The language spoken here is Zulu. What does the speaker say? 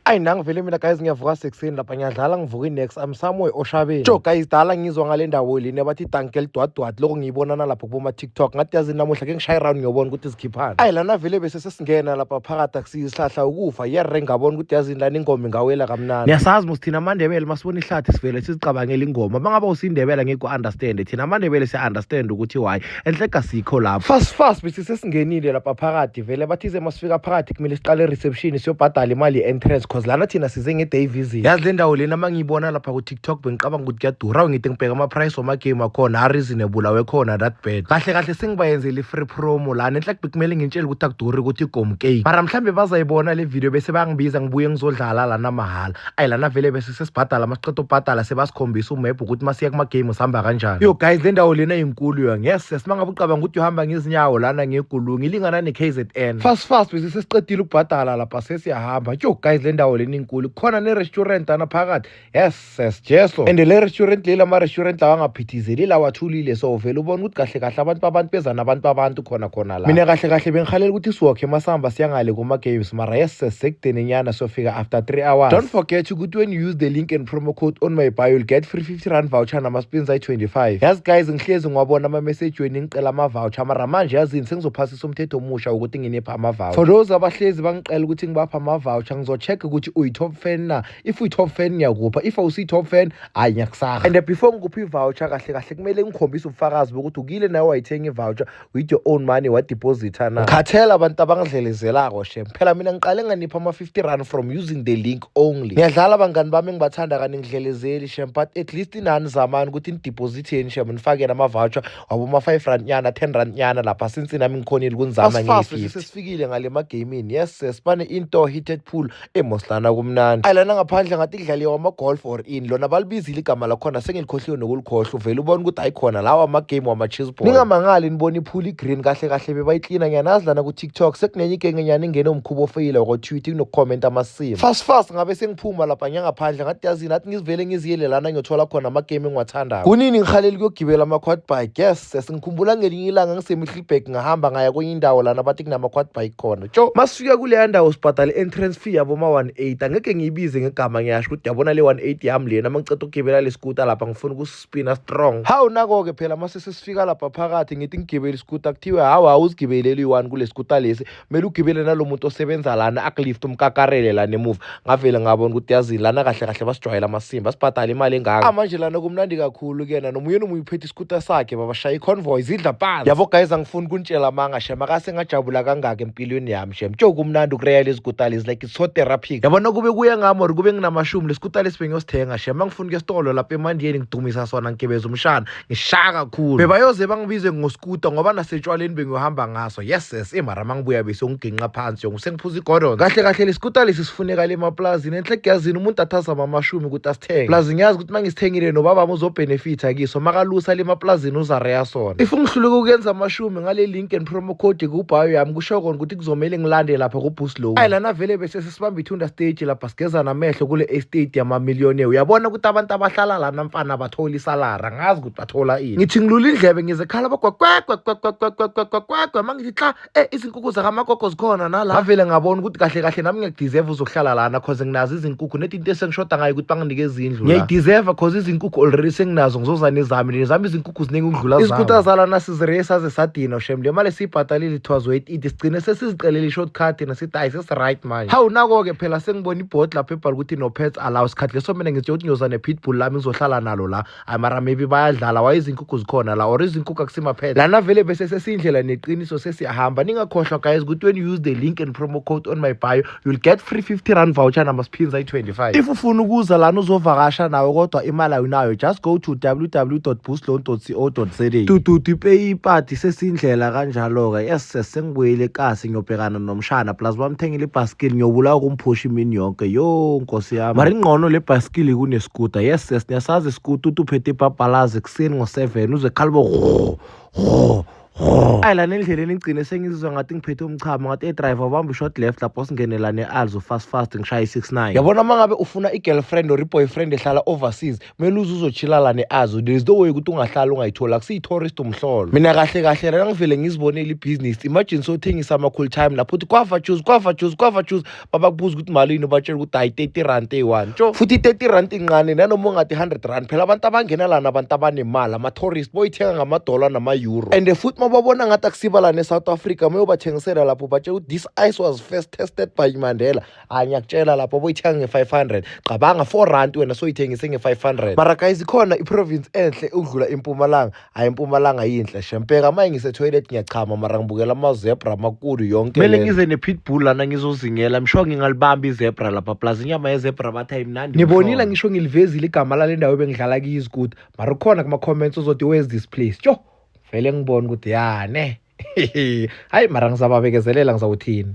ayi nangivele mina guys ngiyavuka sekuseni lapha ngiyadlala ngivuka inex am somewhere oshabeni jo guys dala ngizwa ngale ndawo leni abathi idanki elidwadwadi loko ngiyibonana lapho kuboma-tiktok ngathi yazi namuhla ke ngishaye round ngiyobona ukuthi zikhiphana ayi lana vele bese sesingena lapha phakathi akusiyisihlahla ukufa yere ngabona ukuthi yazini lana ingoma ingawela kamnandi niyasazi mos thina amandebele masibona ihlathi sivele sizicabangela ingoma uma ngaba usindebela ngikwa-understande thina amandebele siya-understand ukuthi why enhle kasikho lapho fast fast bese sesingenile lapha phakathi vele bathize masifika phakathi kumele siqale ereception siyobhadala imali ye-entrance cause lana thina size nge-day visit yazi le ndawo lena uma ngiyibona lapha ku-tiktok bengicabanga ukuthi kuyadura awu ngithi ngibheka ama-price wamagame akhona areasonable awekhona that bad kahle kahle sengibayenzele i-free promo lana enhle kubi kumele ngintshele ukuthi akuduri ukuthi igomcake mara mhlawumbe bazayibona le video bese bangibiza ngibuye ngizodlala lana mahhala ayi lana vele bese sesibhadala masiqeda ubhadala sebasikhombisa umebhu ukuthi masiya kuma-game sihamba kanjani yo guys le ndawo lena inkulu yo ngese simangaba ucabanga ukuthi uhamba ngezinyawo lana ngegulu ngilingana ne-k z n fast fast bese sesiqedile ukubhadala lapha sesiyahamba yo guys le ndawo lena inkulu khona ne-restaurant ana phakathi yes ses jeso and le restaurant leli ama-restaurant lawa angaphithizeli lawathulile so vele ubona ukuthi kahle kahle abantu babantu beza nabantu babantu khona khona la mina kahle kahle bengihalela ukuthi siwokhe masihamba siyangale kuma games mara yes sesekudenenyana siyofika after 3 hours don't forget ukuthi when you use the link and promo code on my bio you'll get free 50 rand voucher nama spins ayi 25 yazi guys ngihlezi ngiwabona ama message wenu ngicela ama voucher mara manje yazini sengizophasisa umthetho omusha ukuthi nginipha ama voucher for those abahlezi bangicela ukuthi ngibapha ama voucher ngizocheck ukuthi uyi top fan na if uyi top fan ngiyakupha if awusi top fan hayi ngiyakusaha and before ngikupha i voucher kahle kahle kumele ngikhombise ubufakazi bokuthi ukile nawe wayithenga i voucher with your own money wadepositha na ngikhathela abantu abangidlelezelako shem phela mina ngiqale nganipha ama-50 rand from using the link only ngiyadlala abangani bami engibathanda kani ngidlelezeli shem but at least inani zamani ukuthi nidepositheni shem nifakeni ama-voucher waboma-five rand nyana ten rand nyana lapha since nami ngikhonile kunizama ngiyi-fifty sesifikile ngale magamini yes sesibane into heated pool emoslana kumnandi ayilana ngaphandle ngathi kudlaliwa wama-golf or in lona balibizile igama lakhona sengilikhohliwe nokulikhohlwa uvele ubona ukuthi ayikhona lawa amagame wama-chisball ningamangali nibona iphula i-green kahle kahle bebayiklina ngiyanazi lana ku-tiktok sekunenye igengenyana ingene umkhuba ofeyile wakotwitter kunokukhomenta amasimo fast fast ngabe sengiphuma lapha ngiyangaphandle ngathi yazini athi ngizivele ngiziyele lana ngiyothola khona amagame engiwathandayo kunini ngihaleli kuyogibela ama-quad bike yes sesingikhumbula ngelinye ilanga ngisemihlibhek ngahamba ngaya kwenye indawo lana bathi kunama-quad bike khona Tjo masifika kuleya ndawo sibhadale entrance fee yabo ma 180 angeke ngiyibize ngegama ngiyasho ukuthi yabona le 180 yami lena uma ngiceda ukugibela le scooter lapha ngifuna ukuspina strong. Hawu nako-ke phela mase sesifika lapha phakathi ngithi ngigibele iscooter kuthiwe hawu hawu uzigibeleli one kule scooter lesi kumele ugibele nalo muntu osebenza lana akulift umkakarele lana emuva ngavele ngabona ukuthi yazini lana kahle kahle basijwayela amasimba sibhadala imali engaka ah, manje lana kumnandi kakhulu kuyena nomunye nomunye uphethe iskuta sakhe babashaya i-convoy zidla phansi yabo guys angifuni kunitshela amanga shem akase ngajabula kangaka empilweni yami shem tjo kumnandi ukureya lezi kuta lezi like it's so therapeutic yabona kube kuye ngami or kube nginamashumi lesikuta lesi bengiyosithenga shem angifuni kuyesitolo lapha emandiyeni ngidumisa sona ngigebeza umshana ngishaya kakhulu bebayoze bangibize ngoskuta ngoba nasetshwaleni bengiyohamba ngaso yes yes emara mangibuya bese ungiginqa phansi yonke sengiphuza igordon kahle kahle leskuta lesi sifuneka le maplazini enhle kuyazini umuntu athaza mamashumi ukuthi asithenge plazi ngiyazi ukuthi mangisithengile nobaba uzobenefitha kiso makalusa le maplazini uzareya sona if ungihluleka ukuyenza amashumi ngale link and promo code kubhayo yami kusho kona ukuthi kuzomele ngilande lapha kuboost low ayi lana vele bese sibambe ithunda stage lapha sigezana amehlo kule estate yamamillionaire uyabona ukuthi abantu abahlala lana mfana bathola isalara ngazi ukuthi bathola ini ngithi ngilula indlebe ngize khala bagwagwagwagwagwagwagwagwagwa uma ngithi xa e izinkukhu zakamagogo zikhona nala ngavele ngabona ukuthi kahle kahle nami ngiyakudeserve uzokuhlala lana cause nginazo izinkukhu nedi into esengishoda ngayo ukuthi banginike izindlu ngiyayideserve cause izinkukhu already senginazo ngizoza nezami nezami izinkukhu ziningi ukudlula zami izinkutha zalana sizireye saze sadina shem le mali esiyibhatalile it was worth it sigcine sesizicelele i-short card nasithi just right manje hawu nako-ke phela sengibona ibhodi lapho ebhala ukuthi no pets allow sikhathi leso mina ngithe ukuthi ngiyoza ne-pitbull lami ngizohlala nalo la ayi mara maybe bayadlala waye izinkukhu zikhona la or izinkukhu akusimaphetha lana vele bese sesiyindlela neqiniso sesiyahamba ningakhohlwa guys ukuthi when you use the link and promo code on my bio you'll get free 50 rand voucher namasphinza ayi-25 if ufuna ukuza lana uzovakasha nawe kodwa imali awunayo just go to www boostloan co za dududu ipeyipati sesiyindlela kanjalo-ke yes sengibuyile kasi ngiyobhekana nomshana plus bamthengile ibhaskili ngiyobulawa ukumphusha imini yonke yo nkosi yami mari ingqono le bhaskili kuneskuta yes yes niyasazi iskuta uthi uphethe ibhabhalazi ekuseni ngo-seven uze khalibo ayi lana endleleni ngigcine sengizizwa ngathi ngiphethe umchamo ngathi edriver ubamba i-short left lapho singenelane alzo fast fast ngishaye i-six nine yabona uma ngabe ufuna i-girlfriend or i-boyfriend ehlala overseas kumele uze uzochilala ne-azo there is no way ukuthi ungahlala ungayitholi akusiyi-tourist umhlolo mina kahle kahle lana ngivele ngizibonele ibhizinisi imagine sothengisa ama-cool time lapho uthi kwava juice kwava juice kwava juice babakubuza ukuthi malini ubatshela ukuthi hayi 30 rand eyi-one tsho futhi i-30 rand incane nanoma ungathi 100 rand phela abantu abangena lana abantu abanemali ama-tourist boyithenga ngamadola nama-euro and futhi uma babona ngathi akusiba lana e-south africa mayobathengisela lapho batshela ukuthi this ice was first tested by mandela hayi ngiyakutshela lapho oboyithenga nge-500 qabanga 4 rand wena soyithengise nge-500 mara guys ikhona iprovince enhle ukudlula impumalanga hayi impumalanga yinhle shempeka manje ngisetoilet ngiyachama mara ngibukela amazebra amakhulu yonke kumele ngize ne-pitbull lana ngizozingela msho ngingalibamba izebra lapha plus inyama yezebra bathi ayimnandi nibonile ngisho ngilivezile igama lale ndawo ebengidlala kiyo izikuti mara ukhona kuma-comments ozothi where's this place tyo vele ngibona ukuthi yane hayi mara ngizababekezelela ngizawuthini